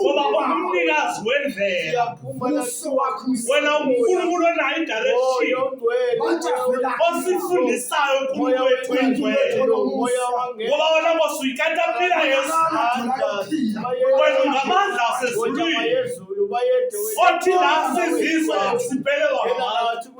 ngoba ungumnikazi wendlela wena unkulunkulu onayo idirection osifundisayo unkulunkulu wethu ingcwele ngoba wena nkosi uyikata mpila yesu wena ungamandla asezulwini othi la sizizwa siphelelwa ngabantu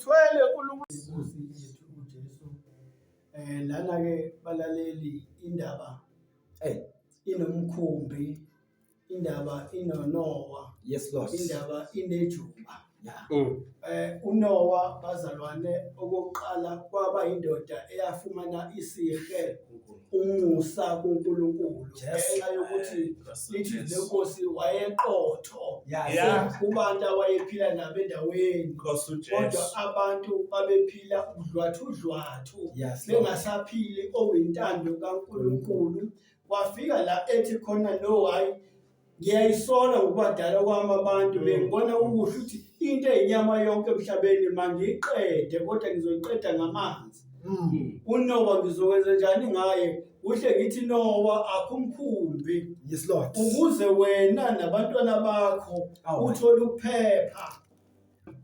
Thwele kulungisa yethu uJesu. Eh lana ke balaleli indaba eh inomkhumbi indaba inonowa yes lord indaba inejuba ya mm. eh unowa bazalwane okokuqala kwaba indoda eyafumana isihe umusa kuNkulunkulu ngenxa yokuthi lithi lenkosi wayeqotho kubantu awayephila nabo endaweni kodwa abantu babephila udlwathudlwathu bengasaphili owentando kaNkulunkulu kwafika la ethi khona no hayi Ngiyayisola ngokubadala kwami abantu bengibona kukuhle ukuthi into eyinyama yonke emhlabeni mangiyiqede kodwa ngizoyiqeda ngamanzi. Mm. uNowa ngizokwenza njani ngaye kuhle ngithi Nowa akumkhumbi Yes, Lord. ukuze wena nabantwana bakho Awu. uthole ukuphepha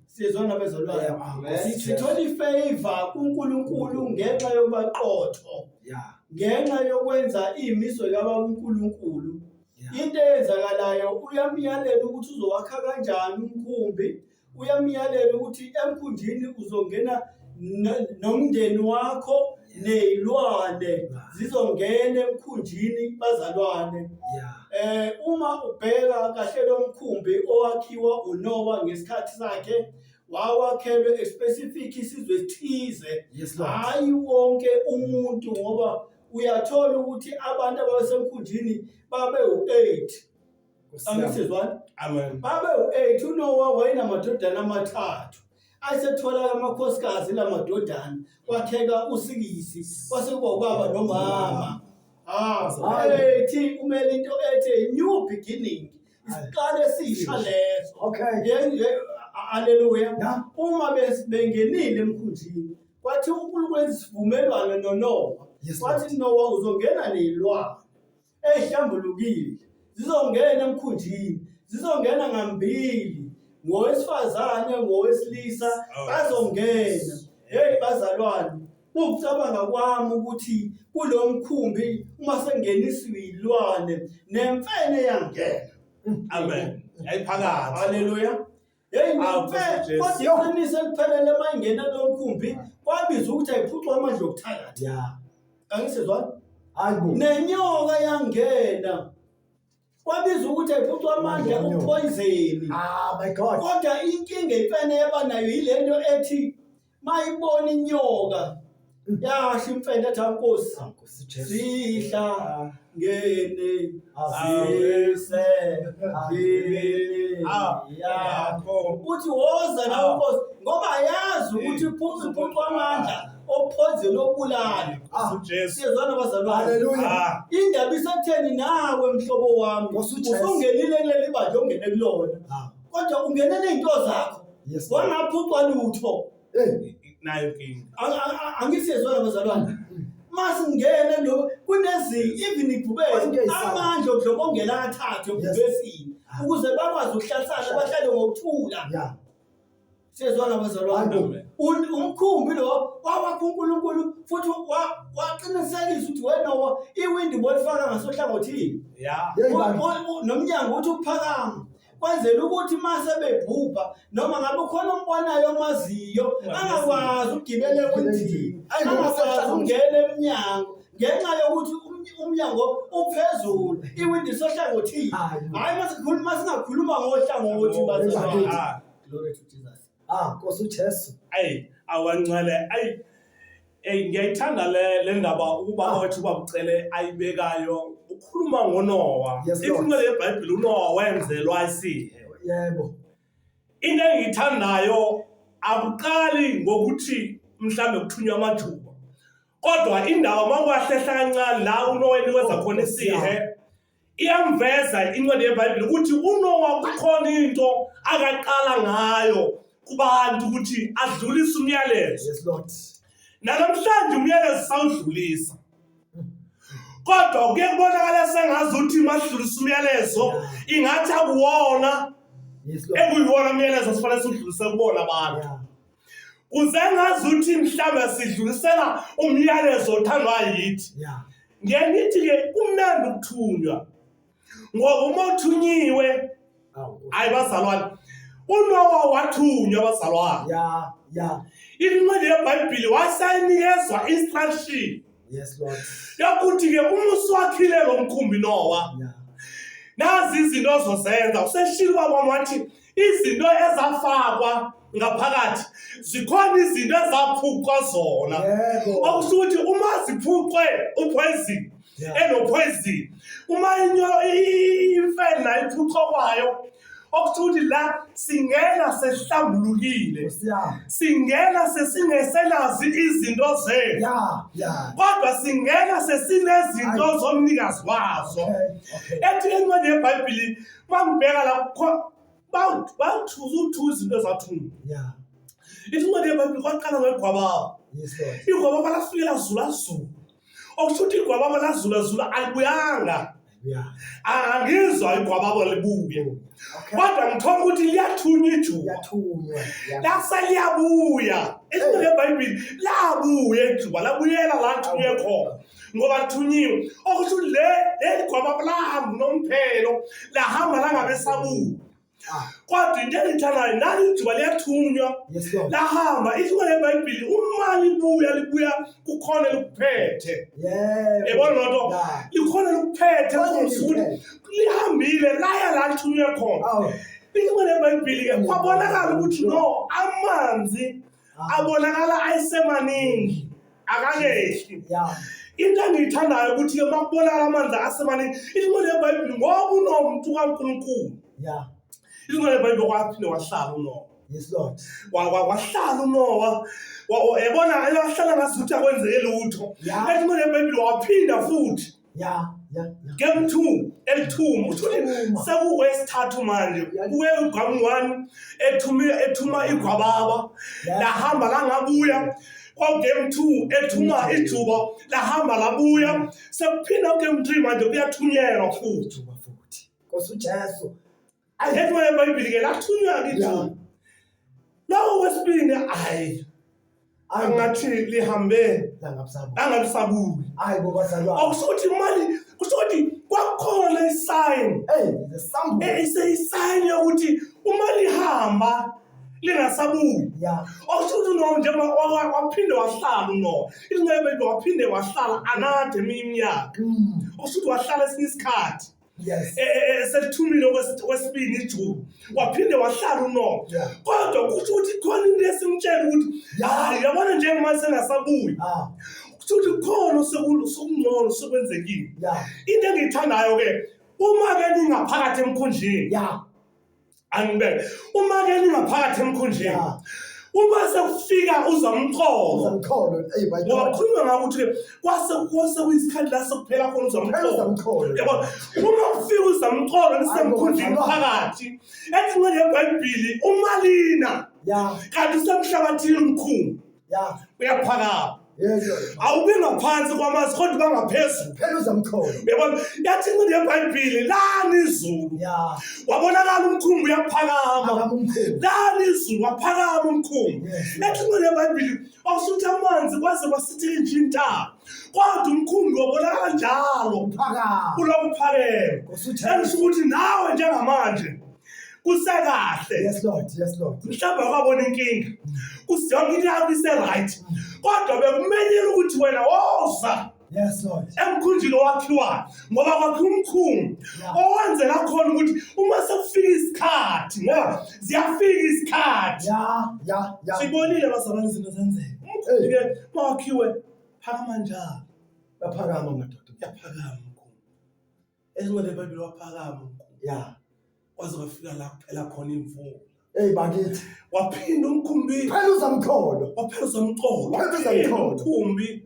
Sizwa nabezolwazi. Yeah, ah, Yes, Si- yes. Sithola ifavor kuNkulunkulu ngenxa yobaqotho. Yeah. Ngenxa yokwenza imiso yaba uNkulunkulu. Yeah. Into eyenzakalayo uyamyalela ukuthi uzowakha kanjani umkhumbi. Uyamyalela ukuthi emkhunjini uzongena no- nomndeni wakho nezilwane zizongena emkhunjini bazalwane eh uma ubheka kahle lo mkhumbi owakhiwa uNowa ngesikhathi sakhe wawakhelwe especific isizwe esithize hayi wonke umuntu ngoba uyathola ukuthi abantu abasemkhunjini babe u8 angisizwani amen babe u-8 unowa wayenamadodana amathathu asethola amakhosikazi la madodana kwakheka usikisi kwase kuba ubaba nomama ah Hhayi. ethi kumele into ethi new beginning isiqalo esisha leso Okay. Nge- nge- a- haleluya Yeah. uma bes- bengenile emkhunjini kwathi unkulunkulu wenza isivumelwano nonowa Yes, kwathi nowa uzongena neyilwane ezihlambulukile zizongena emkhunjini zizongena ngambili ngowesifazane ngowesilisa oh. bazongena hey bazalwane ukucabanga kwami ukuthi kulo mkhumbi uma sengeniswa ilwane nemfene yangena amen yayiphakathi haleluya Yeyi ngempela kodwa iqiniso eliphelele uma ingena kulo mkhumbi kwabiza ukuthi ayiphucwe amandla okuthakathi. Ya. Angisizwa? Hayi bo. Nenyoka yangena. Kwabiza ukuthi ayiphucwe amandla Nenyoka. okupoyizeni. Ah my God. Kodwa inkinga imfene yaba nayo yilento ethi mayibona inyoka yasho imfene ethi ankosi Nkosi Jesu. zidla ngene azise ngene yakho uthi woza nawe Ah. nkosi ngoba yazi ukuthi iphuza iphuqa amandla ophonzeni obulali Nkosi uJesu. siyezwana bazalwane Haleluya. Ah, indaba isetheni nawe mhlobo wami Nkosi uJesu. usungenile kuleli bandla ongene kulona Ah. kodwa ungenele izinto zakho Yes. Wangaphucwa lutho. Eh, nayo inkinga. Ang- ang- ang- Angisezwa la bazalwane. Mase ngene lo kunezinto even ibhubesi Konke isaba. amandla okudlobongela athathe Yes. ebhubesini Ah. ukuze bakwazi ukuhlalisana bahlale ngokuthula. Yeah. Sezwa la bazalwane. Amen. Un- Umkhumbi lo wawakha uNkulunkulu futhi wa- waqinisekisa ukuthi wena wa- iwindi bolifaka ngasohlangothini. Yeah. Yeah, ibandla. U- u- u- Nomnyango uthi uphakama. kwenzela ukuthi uma sebebhubha noma ngabe ukhona ombonayo omaziyo angakwazi ukugibela ewindini angakwazi ukungena emnyango ngenxa yokuthi umnyango uphezulu iwindi sohlangothini hhayi uma singakhuluma ngohlangothi bazaa glory to jesus Ah, Nkosi uJesu. ayi awancele ayi eyi ngiyayithanda le le ndaba ubaba wethu ubamcele ayibekayo ukhuluma ngonowa Yes, Lord. incwele yebhayibhile unowa wenzelwa isihe Yebo. into engiyithandayo akuqali ngokuthi mhlawumbe kuthunywa amajuba kodwa indaba makwahlehla kancane la unoweni wenza khona isihe Iyamveza incwadi yeBhayibheli ukuthi uNowa kukhona into akaqala ngayo kubantu ukuthi adlulise umyalezo. Yes, Lord. Nalamhlanje umyalezo sawudlulisa. Kodwa kuye kubonakala sengazi ukuthi masidlulisa umyalezo ingathi akuwona Yes, Lord. ekuyiwona umyalezo sifanele siwudlulise kubona abantu. Yeah. kuze ngazuthi mhlawumbe sidlulisela umyalezo othandwa yithi ngiye ngithi ke kumnandi ukuthunywa ngoba uma uthunyiwe hayi bazalwane unowa wathunywa bazalwane ya ya incwadi yebhayibhili wasayinikezwa instruction yes lord yokuthi ke uma usuwakhile lo mkhumbi nowa nazi izinto ozozenza useshilo kwabona wathi yeah. izinto ezafakwa ngaphakathi zikhona izinto ezaphucwa zona okusho ukuthi uma ziphucwe uphoyizini enophoyizini uma imfene nayo iphucwa kwayo okusho ukuthi la singena sehlambulukile singena sesingeselazi izinto zethu kodwa singena sesinezinto zomnikazi wazo ethi incwadi yebhayibhili bangibheka la bangithuza uthuza izinto ezathunga ya incwadi yebhayibhile kwaqala ngegwababa igwababa lafike lazulazula okusho ukuthi igwababa lazulazula alibuyanga angizwa igwababa libuye kodwa ngithola ukuthi liyathunywa ijuba lase liyabuya izinto lebhayibhile labuya ijuba labuyela la lithunywe khona ngoba lithunyiwe okusho ukuthi le leli gwababa lahamba unomphelo lahamba langabesabuka ah. kodwa into engiyithandayo nali ijuba liyathunywa lahamba ithuba lebhayibhili uma libuya libuya kukhona likuphethe yebona loo nto likhona likuphethe kuthi lihambile laya la lithunywe khona ithuba lebhayibhili-ke kwabonakala ukuthi no amanzi abonakala ayesemaningi akangehli into engiyithandayo ukuthi-ke uma kubonakala amanzi asemaningi ilimo lebhayibhile ngoba unomuntu kankulunkulu ilimo lebhayibhile kwaphinde wahlala unowa Yes Lord. Wahlala uNowa yabona ayohlala ngazuthi akwenzeke lutho. Ethi manje eBhayibheli waphinda futhi. ya ya ya. game two elithuma uthole Elithuma. sekukwesithathu manje Ya- kuye ugwami one ethuma ethuma igwababa Ya. lahamba langabuya kwagame two ethuma ijuba lahamba labuya sekuphinda ugame three manje kuyathunyelwa futhi Thuba futhi. Nkosi uJesu. Akekho eBhayibheli ke lathunywa kithi. Yeah. Lawo wesibini hayi angathi lihambe Langabusabuli. angalisabuli. Hayi bo bazalwane. Awusho ukuthi imali kusho ukuthi kwakukhona isign Hey, the sample. eh, ise isign yokuthi uma lihamba lingasabuyi. Yeah. Awusho ukuthi uNowa njengoba wa- wa- waphinde wahlala uNowa. Ilunga eBhayibheli waphinde wahlala anade iminyaka. Mm. Awusho ukuthi wahlala esinye isikhathi. Yes. E- e- e- selithumile okwesi- okwesibili ijuba waphinde wahlala unoma Yeah. kodwa kusho ukuthi khona into esimtshela ukuthi Yeah. hayi yabona njengoba sengasabuyi Ah, kusho ukuthi khona oseku- sekungcono sekwenzekile yeah. into engiyithandayo-ke uma-ke ningaphakathi emkhundleni Yeah. angibeke uma ke ningaphakathi emkhundleni ah. uma sekufika uzamxolo ngoba khuluma ngako ukuthi kwase kwase kuyisikhathi la sekuphela khona uzamxolo yabo uma kufika uzamxolo nisemkhundleni phakathi ethi ngengebhayibhili umalina kanti usemhlabathini mkhulu Yeah. uyaphakama Yes. Lord. awubi ngaphansi kwamanzi kodwa uba ngaphezulu Phela uzamthola. uyabona yathi incindi yebhayibhile lani izulu Yeah. wabonakala umkhumbi uyaphakama Phakama umkhulu. lani izulu waphakama umkhumbi Yes. yathi incindi yebhayibhile wawusuthi amanzi kwaze kwasithela nje intaba kodwa umkhumbi wabonakala njalo Phakama. ulokuphakela Ngosuthe. elisho ukuthi nawe njengamanje kusekahle Yes, Lord. Yes, Lord. mhlawumbe awukabona inkinga usiyonke into yakho ise-right kodwa bekumenyela ukuthi wena woza Yes, Lord. emkhunjini owakhiwayo ngoba kwakhiwa umkhumbi owenzela khona ukuthi uma sekufika isikhathi ngoba ziyafika isikhathi Yeah, yeah, yeah. sibonile bazalwane izinto zenzeka umkhumbi-ke mawakhiwe phakama njalo Baphakama madoda. uyaphakama umkhumbi Ezincwele eBhayibheli waphakama umkhulu. Ya. Waze wafika la kuphela khona imvula. Hey bakithi. Waphinda umkhumbi. Phela uzamkholo. Waphela uzamkholo. Waphela uzamkholo. Umkhumbi.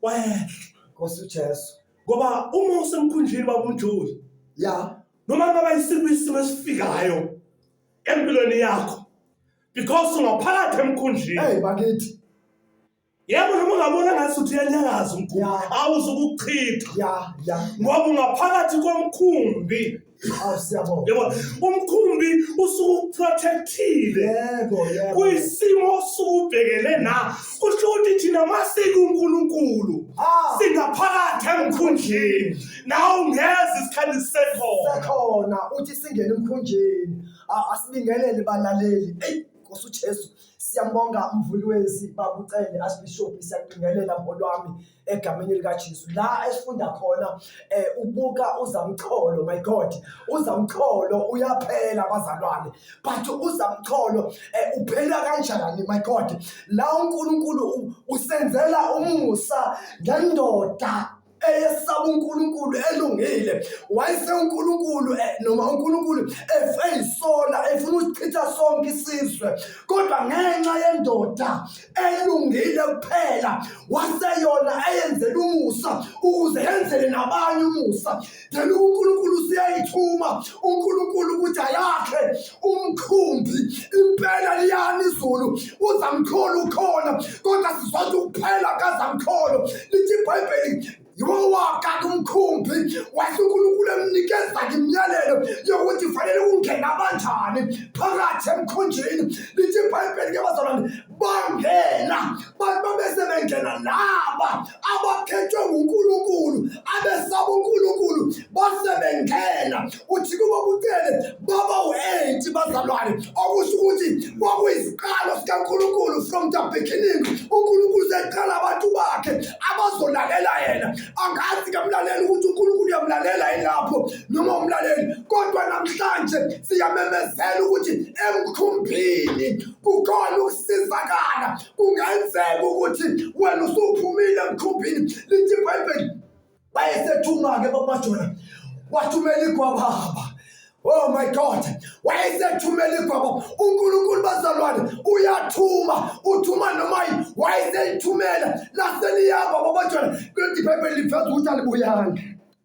Wehla. Nkosi uJesu. Ngoba uma usemkhunjini babumjoli. Ya. Noma baba isiphi isimo esifikayo empilweni yakho because ungaphakathi emkhunjini. Hey bakithi. yebo noma ungabona ngathi uthi uyanyakaza umkhumbi Ya. awuzukuchitha ya ya ngoba ungaphakathi komkhumbi awu siyabonga yebo umkhumbi usuke ukuprotectile yebo yebo kuyisimo osuke ubhekene na kusho ukuthi thina masike unkulunkulu Ah. singaphakathi emkhundleni nawe ungeza isikhathi sisekhona sekhona uthi singene emkhunjeni A- asibingelele balaleli eyi nkosi ujesu Siyambonga umvuli wezi babucele asibishop siyaqingelela ngolwami egameni lika Jesu la esifunda khona eh, ubuka uzamcholo my god uzamcholo uyaphela bazalwane but uzamcholo eh, uphela kanjani my god la uNkulunkulu u- usenzela umusa ngendoda eyesaba uNkulunkulu elungile wayesenkulunkulu eh, noma uNkulunkulu efeyisola efuna usichitha sonke isizwe kodwa ngenxa yendoda elungile kuphela waseyona eyenzela umusa ukuze yenzele nabanye umusa then uNkulunkulu useyayithuma uNkulunkulu ukuthi ayakhe umkhumbi impela liyani izulu uzamkhulu ukhona kodwa sizothi ukuphela kazamkholo lithi ibhayibheli yowaka kumkhumbi wathi uNkulunkulu emnikeza imiyalelo yokuthi fanele ungena kanjani phakathi emkhunjini lithi ibhayibheli ke bazalwane bangena bantu babese bengena laba abakhethwe nguNkulunkulu abesaba uNkulunkulu base bengena uthi kuba kucele baba u-eight bazalwane okusho ukuthi kwakuyiziqalo sikaNkulunkulu from the beginning uNkulunkulu seqala abantu bakhe abazolalela yena angazi kamlaleli ukuthi uNkulunkulu uyamlalela yilapho noma umlaleli kodwa namhlanje siyamemezela ukuthi emkhumbini kukhona ukusizakala kungenzeka ukuthi wena usuphumile emkhumbini lithi ibhayibheli bayesethuma-ke bakumajona wathumela igwababa Oh my God, wayesethumela igwabo uNkulunkulu bazalwane uyathuma uthuma noma yini wayeseyithumela laseliyaba babajwana kule Bhayibheli liveza ukuthi alibuyanga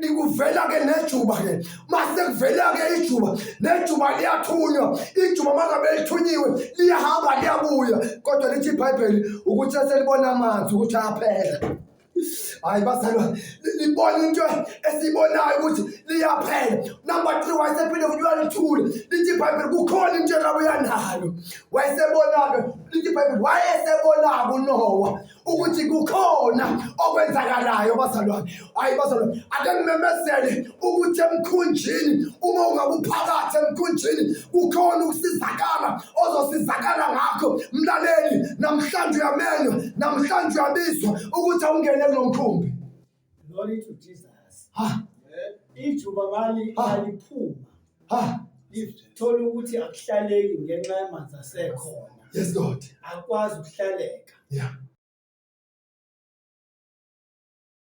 likuvela-ke nejuba-ke mase kuvela-ke ijuba nejuba liyathunywa ijuba mangabe lithunyiwe liyahamba liyabuya kodwa lithi ibhayibheli ukuthi eselibona amanzi ukuthi aphela hayi bazalwane libona into esiyibonayo ukuthi liyaphela number three wayesephinde futhi uyalithule lithi ibhayibheli kukhona into elabuya nalo wayesebonake lithi ibhayibheli wayesebonake unowa ukuthi kukhona okwenzakalayo bazalwane hayi bazalwane ake ngimemezele ukuthi emkhunjini uma ungabe uphakathi emkhunjini kukhona ukusizakala ozosizakala ngakho mlaleli namhlanje uyamenywa namhlanje uyabizwa ukuthi awungene kulo mkhumbi Glory to Jesus. Ha. Ijuba mali Ha. aliphuma. Ha. Lithola ukuthi akuhlaleki ngenxa yamanzi asekhona. Yes Lord. Akwazi ukuhlaleka. Yeah.